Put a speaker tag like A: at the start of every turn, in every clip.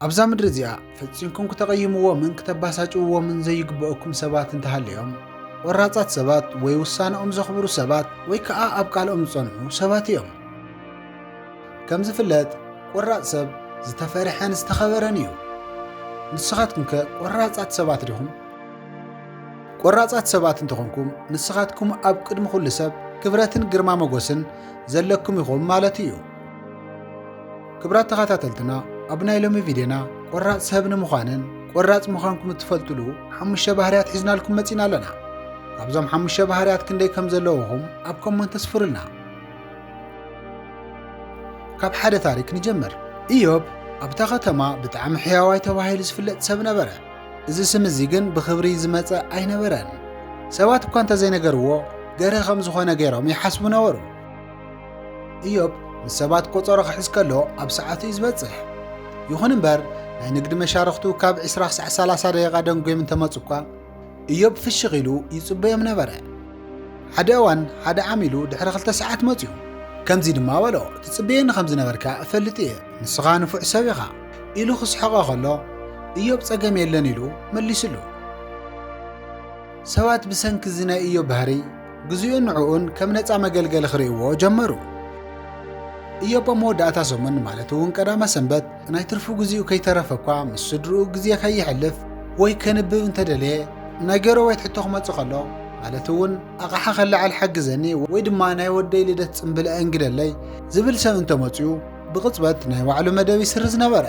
A: ኣብዛ ምድሪ እዚኣ ፈጺምኩም ክተቐይምዎምን ክተባሳጭውዎምን ዘይግበኦኩም ሰባት እንተሃልዮም፣ ቆራጻት ሰባት ወይ ውሳነኦም ዘኽብሩ ሰባት ወይ ከኣ ኣብ ቃልኦም ዝጸንዑ ሰባት እዮም። ከም ዝፍለጥ ቆራጽ ሰብ ዝተፈርሐን ዝተኸበረን እዩ። ንስኻትኩም ከ ቆራጻት ሰባት ዲኹም? ቆራጻት ሰባት እንተኾንኩም ንስኻትኩም ኣብ ቅድሚ ኩሉ ሰብ ክብረትን ግርማ መጎስን ዘለኩም ኢኹም ማለት እዩ። ክብራት ተኸታተልትና ኣብ ናይ ሎሚ ቪድዮና ቆራፅ ሰብ ንምዃንን ቆራፅ ምዃንኩም እትፈልጥሉ ሓሙሽተ ባህርያት ሒዝናልኩም መፂና ኣለና ካብዞም ሓሙሽተ ባህርያት ክንደይ ከም ዘለውኹም ኣብ ኮመንት ተስፍሩልና ካብ ሓደ ታሪክ ንጀምር ኢዮብ ኣብታ ከተማ ብጣዕሚ ሕያዋይ ተባሂሉ ዝፍለጥ ሰብ ነበረ እዚ ስም እዚ ግን ብኽብሪ ዝመፀ ኣይነበረን ሰባት እኳ እንተዘይነገርዎ ገርህ ከም ዝኾነ ገይሮም ይሓስቡ ነበሩ እዮብ ንሰባት ቆጸሮ ክሕዝ ከሎ ኣብ ሰዓቱ እዩ ዝበጽሕ። ይኹን እምበር ናይ ንግዲ መሻርኽቱ ካብ 20 ክሳዕ 30 ደቂቓ ደንጎዮም እንተመጹ እኳ እዮብ ፍሽኽ ኢሉ ይጽበዮም ነበረ። ሓደ እዋን ሓደ ዓሚሉ ድሕሪ ክልተ ሰዓት መጺኡ ከምዚ ድማ በሎ ትጽበየኒ ከም ዝነበርካ እፈልጥ እየ ንስኻ ንፉዕ ሰብ ኢኻ ኢሉ ክስሕቐ ከሎ እዮብ ጸገም የለን ኢሉ መሊስሉ። ሰባት ብሰንኪ እዚ ናይ እዮብ ባህሪ ግዜኡን ንዕኡን ከም ነጻ መገልገሊ ክርእይዎ ጀመሩ። እዮብ ኣብ መወዳእታ ሰሙን ማለት እውን ቀዳመ ሰንበት ናይ ትርፉ ግዜኡ ከይተረፈ እኳ ምስ ስድርኡ ግዜ ከይሕልፍ ወይ ከንብብ እንተደለየ ናይ ገረቤት ሕቶ ክመጽእ ከሎ ማለት እውን ኣቕሓ ከለዓል ሓግዘኒ ወይ ድማ ናይ ወደይ ልደት ጽምብል ኣእንግደለይ ዝብል ሰብ እንተመፅኡ ብቕፅበት ናይ ባዕሉ መደብ ይስርዝ ነበረ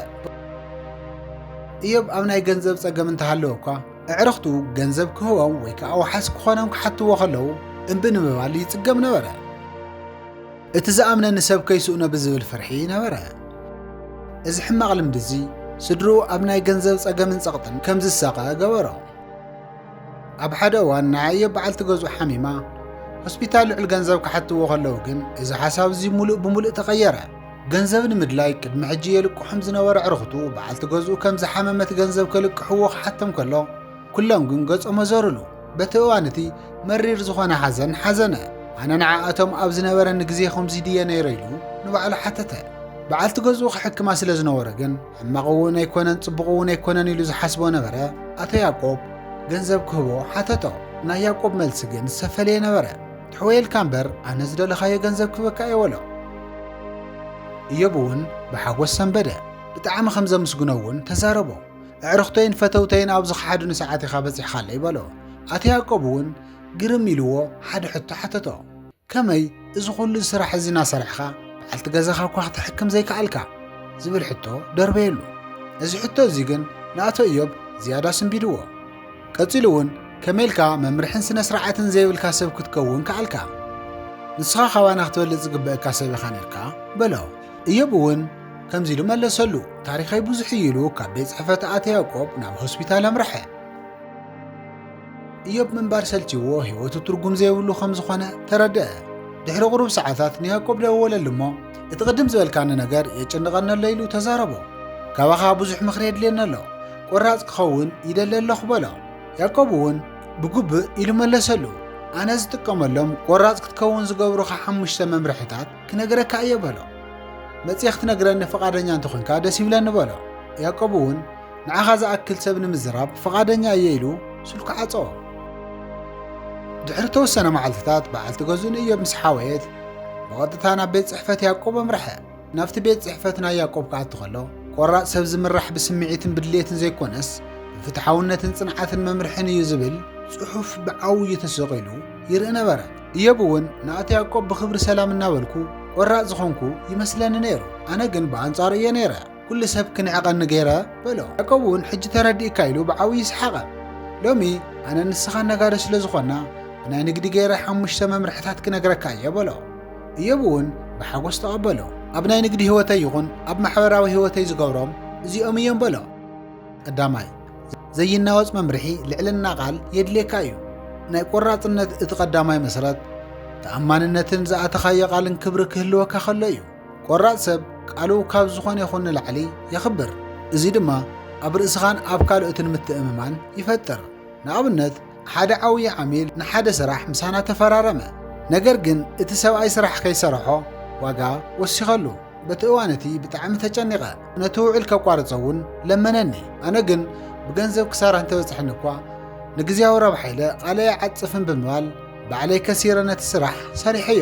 A: እዮብ ኣብ ናይ ገንዘብ ጸገም እንተሃለወ እኳ ኣዕርኽቱ ገንዘብ ክህቦም ወይ ከኣ ዋሓስ ክኾኖም ክሓትዎ ከለዉ እምቢ ንምባል ይጽገም ነበረ። እቲ ዝኣምነኒ ሰብ ከይስእኖ ብዝብል ፍርሒ ነበረ። እዚ ሕማቕ ልምዲ እዚ ስድርኡ ኣብ ናይ ገንዘብ ጸገምን ጸቕጥን ከም ዝሳቐ ገበሮ። ኣብ ሓደ እዋን ናይ ኣዮ በዓልቲ ገዝኡ ሓሚማ ሆስፒታል ልዑል ገንዘብ ክሓትዎ ከለዉ ግን እዚ ሓሳብ እዚ ምሉእ ብምሉእ ተቐየረ። ገንዘብ ንምድላይ ቅድሚ ሕጂ የልቅሖም ዝነበረ ኣዕሩኽቱ በዓልቲ ገዝኡ ከም ዝሓመመት ገንዘብ ከልቅሕዎ ክሓቶም ከሎ ኩሎም ግን ገጾም ኣዞርሉ። በቲ እዋን እቲ መሪር ዝኾነ ሓዘን ሓዘነ። ኣነ ንዓኣቶም ኣብ ዝነበረኒ ግዜ ከምዚ ድየ ነይረ ኢሉ ንባዕሉ ሓተተ። በዓልቲ ገዝኡ ክሕክማ ስለ ዝነበሮ ግን ሕማቕ እውን ኣይኮነን ጽቡቕ እውን ኣይኮነን ኢሉ ዝሓስቦ ነበረ። ኣቶ ያቆብ ገንዘብ ክህቦ ሓተቶ። ናይ ያቆብ መልሲ ግን ዝተፈለየ ነበረ። ትሕወየልካ እምበር ኣነ ዝደለኻዮ ገንዘብ ክበካ እየ በሎ። እዮብ እውን ብሓጎስ ሰንበደ፣ ብጣዕሚ ከም ዘምስግኖ እውን ተዛረቦ። ኣዕርኽቶይን ፈተውተይን ኣብ ዝኸሓዱኒ ሰዓት ኢኻ በጺሕካለይ በሎ። ኣቶ ያእቆብ እውን ግርም ኢልዎ ሓደ ሕቶ ሓተቶ፣ ከመይ እዚ ዅሉ ስራሕ እዚ እናሰርሕካ በዓልቲ ገዛኻ እኳ ክትሕክም ዘይከኣልካ? ዝብል ሕቶ ደርበየሉ። እዚ ሕቶ እዚ ግን ንኣቶ እዮብ ዝያዳ ስንቢድዎ። ቀጺሉ እውን ከመይ ኢልካ መምርሕን ስነ ስርዓትን ዘይብልካ ሰብ ክትከውን ከኣልካ? ንስኻ ካባና ክትበልጽ ዝግበእካ ሰብ ኢኻ ነርካ በሎ። እዮብ እውን ከምዚ ኢሉ መለሰሉ፣ ታሪኸይ ብዙሕ እዩ ኢሉ ካብ ቤት ጽሕፈት ኣቶ ያዕቆብ ናብ ሆስፒታል ኣምርሐ። እዮብ ምንባር ሰልችዎ ህይወቱ ትርጉም ዘይብሉ ከም ዝኾነ ተረድአ። ድሕሪ ቁሩብ ሰዓታት ንያዕቆብ ደወለሉ እሞ እቲ ቅድም ዝበልካኒ ነገር የጨንቐኒ ኣሎ ኢሉ ተዛረቦ። ካባኻ ብዙሕ ምኽሪ የድልየኒ ኣሎ ቈራጽ ክኸውን ይደሊ ኣለኹ በሎ። ያእቆብ እውን ብግቡእ ኢሉ መለሰሉ። ኣነ ዝጥቀመሎም ቈራጽ ክትከውን ዝገብሩኻ ሓሙሽተ መምርሒታት ክነግረካ እየ በሎ። መጺኤ ክትነግረኒ ፍቓደኛ እንተ ዀንካ ደስ ይብለኒ በሎ። ያእቆብ እውን ንዓኻ ዝኣክል ሰብ ንምዝራብ ፍቓደኛ እየ ኢሉ ስልኩ ዓጸወ። ድሕሪ እተወሰነ መዓልትታት በዓልቲ ገዝኡ ንእዮብ ምስ ሓወየት ብቐጥታ ናብ ቤት ጽሕፈት ያእቆብ ኣምርሐ። ናብቲ ቤት ጽሕፈት ናይ ያዕቆብ ክኣቱ ከሎ፣ ቆራጽ ሰብ ዝምራሕ ብስምዒትን ብድሌትን ዘይኰነስ ብፍትሓውነትን ጽንዓትን መምርሕን እዩ ዝብል ጽሑፍ ብዓውዩ ተሰቒሉ ይርኢ ነበረ። እዮብ እውን ንኣቶ ያዕቆብ ብኽብሪ ሰላም እናበልኩ ቆራጽ ዝዀንኩ ይመስለኒ ነይሩ፣ ኣነ ግን ብኣንጻሩ እየ ነይረ፣ ኵሉ ሰብ ክንዕቐኒ ገይረ በሎ። ያዕቆብ እውን ሕጂ ተረዲእካ ኢሉ ብዓውዩ ሰሓቐ። ሎሚ ኣነን ንስኻን ነጋዶ ስለ ዝዀንና ብናይ ንግዲ ገይረ ሓሙሽተ መምርሕታት ክነግረካ እየ በሎ። እዮብ እውን ብሓጐስ ተቐበሎ። ኣብ ናይ ንግዲ ህይወተይ ይኹን ኣብ ማሕበራዊ ህይወተይ ዝገብሮም እዚኦም እዮም በሎ። ቀዳማይ፣ ዘይናወጽ መምርሒ ልዕልና ቃል የድልየካ እዩ። ናይ ቈራጽነት እቲ ቀዳማይ መሰረት፣ ተኣማንነትን ዝኣተኻዮ ቃልን ክብሪ ክህልወካ ከሎ እዩ። ቈራጽ ሰብ ቃሉ ካብ ዝኾነ ይኹን ንላዕሊ የኽብር፣ እዚ ድማ ኣብ ርእስኻን ኣብ ካልኦትን ምትእምማን ይፈጥር። ንኣብነት፣ ሓደ ዓውዪ ዓሚል ንሓደ ስራሕ ምሳና ተፈራረመ። ነገር ግን እቲ ሰብኣይ ስራሕ ከይሰርሖ ዋጋ ወሲኸሉ። በቲ እዋን እቲ ብጣዕሚ ተጨኒቐ። ነቲ ውዕል ከቋርጾ እውን ለመነኒ። ኣነ ግን ብገንዘብ ክሳራ እንተበጽሐኒ እኳ ንግዜያዊ ረብሓ ኢለ ቃለይ ኣይዓጽፍን ብምባል ባዕለይ ከሲረ ነቲ ስራሕ ሰሪሐዮ።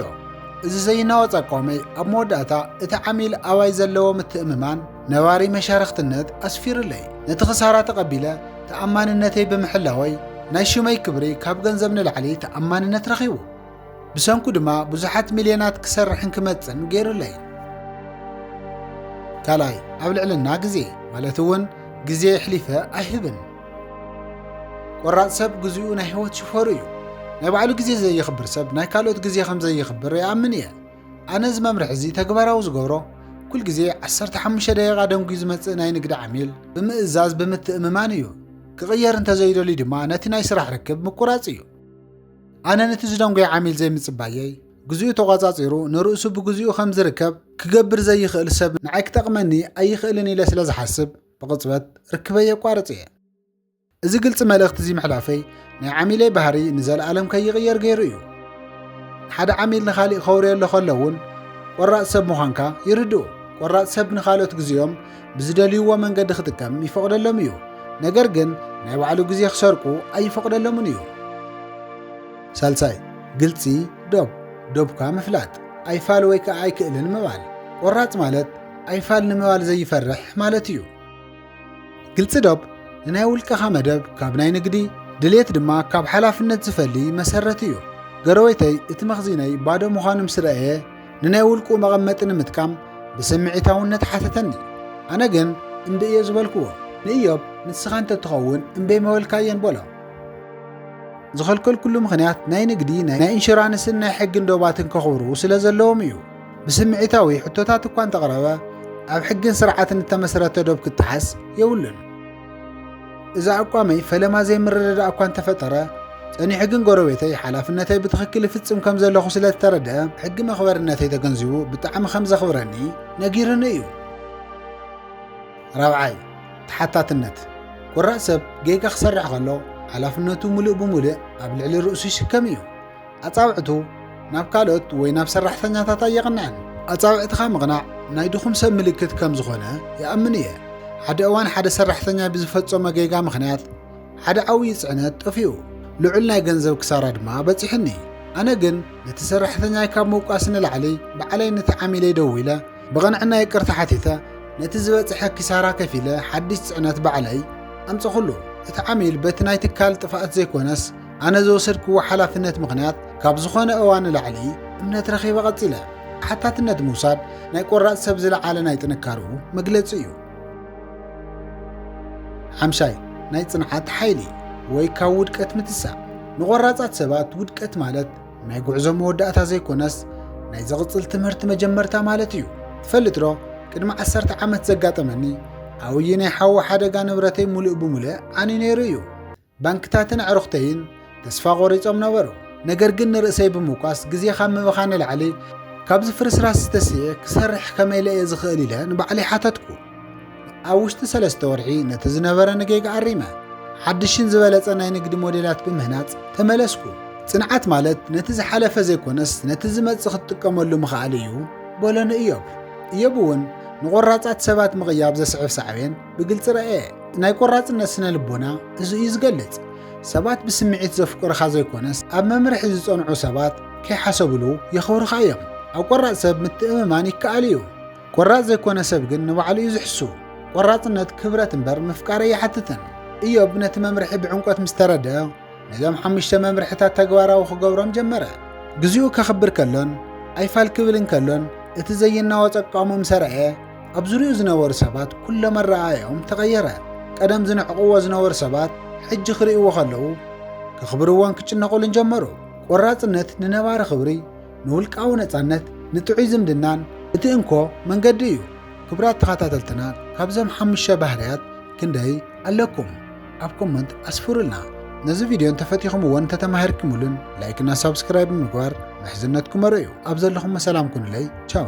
A: እዚ ዘይናወጽ ኣቋመይ ኣብ መወዳእታ እቲ ዓሚል ኣባይ ዘለዎ ምትእምማን ነባሪ መሻርኽትነት ኣስፊሩለይ። ነቲ ክሳራ ተቐቢለ ተኣማንነተይ ብምሕላወይ ናይ ሽመይ ክብሪ ካብ ገንዘብ ንላዕሊ ተኣማንነት ረኺቡ። ብሰንኩ ድማ ብዙሓት ሚልዮናት ክሰርሕን ክመጽእን ገይሩለይ። ካልኣይ ኣብ ልዕልና ግዜ ማለት እውን ግዜ የሕሊፈ ኣይህብን። ቆራፅ ሰብ ግዚኡ ናይ ህይወት ሽፈሩ እዩ። ናይ ባዕሉ ግዜ ዘየኽብር ሰብ ናይ ካልኦት ግዜ ከም ዘየኽብር ይኣምን እየ። ኣነ እዚ መምርሒ እዚ ተግባራዊ ዝገብሮ ኩል ግዜ ዓሰርተ ሓሙሽተ ደቂቓ ደንጉዩ ዝመጽእ ናይ ንግዲ ዓሚል ብምእዛዝ ብምትእምማን እዩ። ክቕየር እንተዘይደልዩ ድማ ነቲ ናይ ስራሕ ርክብ ምቁራጽ እዩ። ኣነ ነቲ ዝደንጎየ ዓሚል ዘይምጽባየይ ግዜኡ ተቋጻጺሩ ንርእሱ ብግዜኡ ከም ዝርከብ ክገብር ዘይኽእል ሰብ ንዓይ ክጠቕመኒ ኣይኽእልን ኢለ ስለ ዝሓስብ ብቕጽበት ርክበይ የቋርጽ እየ። እዚ ግልፂ መልእኽቲ እዚ ምሕላፈይ ናይ ዓሚለይ ባህሪ ንዘለኣለም ከይቕየር ገይሩ እዩ ሓደ ዓሚል ንኻሊእ ከውርየሎ ከሎ እውን ቆራፅ ሰብ ምዃንካ ይርድኡ ቆራፅ ሰብ ንካልኦት ግዜኦም ብዝደልይዎ መንገዲ ክጥቀም ይፈቕደሎም እዩ ነገር ግን ናይ ባዕሉ ግዜ ክሰርቁ ኣይፈቕደሎምን እዩ ሳልሳይ ግልፂ ዶብ ዶብካ ምፍላጥ ኣይፋል ወይ ከዓ ኣይክእልን ምባል ቆራፅ ማለት ኣይፋል ንምባል ዘይፈርሕ ማለት እዩ ግልፂ ዶብ ንናይ ውልቀኻ መደብ ካብ ናይ ንግዲ ድሌት ድማ ካብ ሓላፍነት ዝፈሊ መሰረት እዩ። ገረወይተይ እቲ መኽዚነይ ባዶ ምዃኑ ምስ ረኣየ ንናይ ውልቁ መቐመጢ ንምጥቃም ብስምዒታውነት ሓተተኒ። ኣነ ግን እምቢ እየ ዝበልክዎ። ንእዮብ ንስኻ እንተትኸውን እምበይ መበልካየን በሎ። ዝኸልከልኩሉ ምኽንያት ናይ ንግዲ ናይ ኢንሹራንስን ናይ ሕግን ዶባትን ከኽብሩ ስለ ዘለዎም እዩ። ብስምዒታዊ ሕቶታት እኳ እንተቕረበ ኣብ ሕግን ስርዓትን እተመስረተ ዶብ ክጠሓስ የብሉን። እዚ ኣቋመይ ፈለማ ዘይምርድዳእ እኳ እንተፈጠረ ጸኒሑ ግን ጎረቤተይ ሓላፍነተይ ብትኽክል ይፍጽም ከም ዘለኹ ስለ ዝተረድአ ሕጊ መኽበርነተይ ተገንዚቡ ብጣዕሚ ከም ዘኽብረኒ ነጊርኒ እዩ። ራብዓይ ተሓታትነት ቁራእ ሰብ ጌጋ ክሰርሕ ከሎ ሓላፍነቱ ምሉእ ብምሉእ ኣብ ልዕሊ ርእሱ ይሽከም እዩ። ኣጻብዕቱ ናብ ካልኦት ወይ ናብ ሰራሕተኛታት ኣየቕንዐን። ኣጻብዕትኻ ምቕናዕ ናይ ድኹም ሰብ ምልክት ከም ዝኾነ ይኣምን እየ። ሓደ እዋን ሓደ ሰራሕተኛይ ብዝፈጸሞ ጌጋ ምኽንያት ሓደ ዓብዪ ጽዕነት ጠፊኡ፣ ልዑል ናይ ገንዘብ ክሳራ ድማ በጺሑኒ። ኣነ ግን ነቲ ሰራሕተኛይ ካብ ምውቃስ ንላዕሊ ባዕለይ ነቲ ዓሚለይ ደዊለ ብቕንዕና ይቅርታ ሓቲተ ነቲ ዝበጽሐ ኪሳራ ከፊለ ሓድሽ ጽዕነት ባዕለይ ኣምጸኹሉ። እቲ ዓሚል በቲ ናይ ትካል ጥፍኣት ዘይኮነስ ኣነ ዝወሰድክዎ ሓላፍነት ምኽንያት ካብ ዝኾነ እዋን ንላዕሊ እምነት ረኺበ ቀጺለ። ሓታትነት ምውሳድ ናይ ቆራጽ ሰብ ዝለዓለ ናይ ጥንካርኡ መግለጺ እዩ። ሓምሻይ ናይ ጽንዓት ሓይሊ ወይ ካብ ውድቀት ምትሳእ። ንቆራጻት ሰባት ውድቀት ማለት ናይ ጉዕዞ መወዳእታ ዘይኮነስ ናይ ዝቕጽል ትምህርቲ መጀመርታ ማለት እዩ። ትፈልጥ ዶ ቅድሚ ዓሰርተ ዓመት ዘጋጠመኒ ዓብዪ ናይ ሓዊ ሓደጋ ንብረተይ ሙሉእ ብሙሉእ ዓንዩ ነይሩ እዩ። ባንክታትን ኣዕሩኽተይን ተስፋ ቖሪጾም ነበሩ። ነገር ግን ንርእሰይ ብምውቃስ ግዜ ካብ ምብኻን ንላዕሊ ካብዚ ፍርስራስ ዝተስኤ ክሰርሕ ከመይ ኢለ እየ ዝኽእል ኢለ ንባዕለይ ሓተትኩ። ኣብ ውሽጢ ሰለስተ ወርሒ ነቲ ዝነበረኒ ጌጋ ኣሪመ ሓድሽን ዝበለጸ ናይ ንግዲ ሞዴላት ብምህናጽ ተመለስኩ። ጽንዓት ማለት ነቲ ዝሓለፈ ዘይኮነስ ነቲ ዝመጽእ ክትጥቀመሉ ምኽኣል እዩ በሎኒ እዮብ። እዮብ እውን ንቖራጻት ሰባት ምቕያብ ዘስዕብ ሳዕቤን ብግልፂ ረኣየ ናይ ቆራፅነት ስነ ልቦና እዚ እዩ ዝገልፅ ሰባት ብስምዒት ዘፍቅሩኻ ዘይኮነስ ኣብ መምርሒ ዝፀንዑ ሰባት ከይሓሰብሉ የኽብሩኻ እዮም ኣብ ቆራፅ ሰብ ምትእምማን ይከኣል እዩ ቆራፅ ዘይኮነ ሰብ ግን ንባዕሉ እዩ ዝሕሱ ቆራፅነት ክብረት እምበር ምፍቃር ኣይሓትትን እዮብ ነቲ መምርሒ ብዕምቆት ምስ ተረድአ ነዞም ሓሙሽተ መምርሕታት ተግባራዊ ክገብሮም ጀመረ ግዚኡ ከኽብር ከሎን ኣይፋል ክብል እንከሎን እቲ ዘይናወፅ ኣቃውሞ ምስ ረኣየ ኣብ ዙርያኡ ዝነበሩ ሰባት ኩሎም ኣረኣእያኦም ተቐየረ። ቀደም ዝንዕቕዎ ዝነበሩ ሰባት ሕጂ ክርእይዎ ከለዉ ክኽብርዎን ክጭነቑሉን ጀመሩ። ቆራጽነት ንነባሪ ክብሪ፣ ንውልቃዊ ነጻነት፣ ንጥዑይ ዝምድናን እቲ እንኮ መንገዲ እዩ። ክብራት ተኸታተልትና ካብዞም ሓሙሽተ ባህርያት ክንደይ ኣለኩም? ኣብ ኮመንት ኣስፍሩልና። ነዚ ቪድዮ እንተፈቲኹምዎ እንተተማሂርክምሉን ላይክና ሳብስክራይብ ብምግባር ምሕዝነትኩም ኣርእዩ። ኣብ ዘለኹሞ ሰላም ኩኑለይ ቻው።